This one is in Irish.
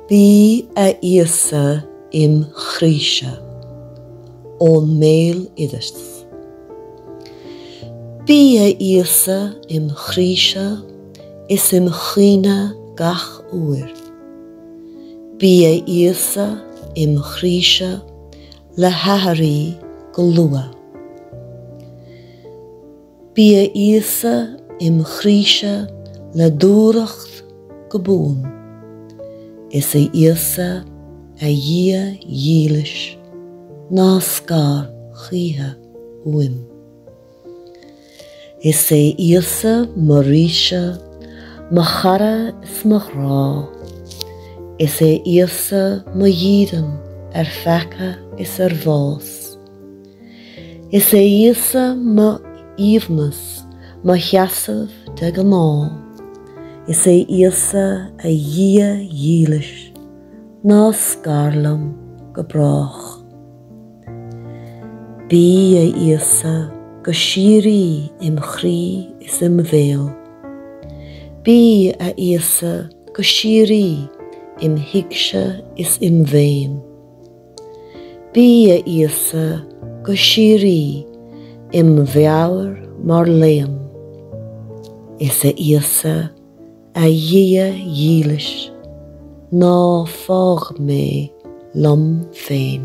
Bí a Íosa im' chroíse. Ón mBéaloideas. Bí a Íosa im' chroíse is im' chuimhne gach uair. Bí a Íosa im' chroíse le haithrí go luath. Bí a Íosa im chroíse le dúthracht go buan. Is a Íosa, a Dhia dhílis, ná scar choíche uaim. Is é Íosa mo ríse, mo chara is mo ghrá. Is é Íosa mo dhídean ar pheaca is ar bhás. Is é Íosa m'aoibhneas, mo sheasamh de ghnáth. Is a Íosa a Dhia dhílis, ná scar liom go brách. Bí, a Íosa, go síoraí im chroí is im bhéal. Bí, a Íosa, go síoraí im thuigse is im mhéin. Bí a Íosa go síoraí im' mheabhair mar léann. Is a Íosa, a Dhia dhílis, ná fág mé liom féin.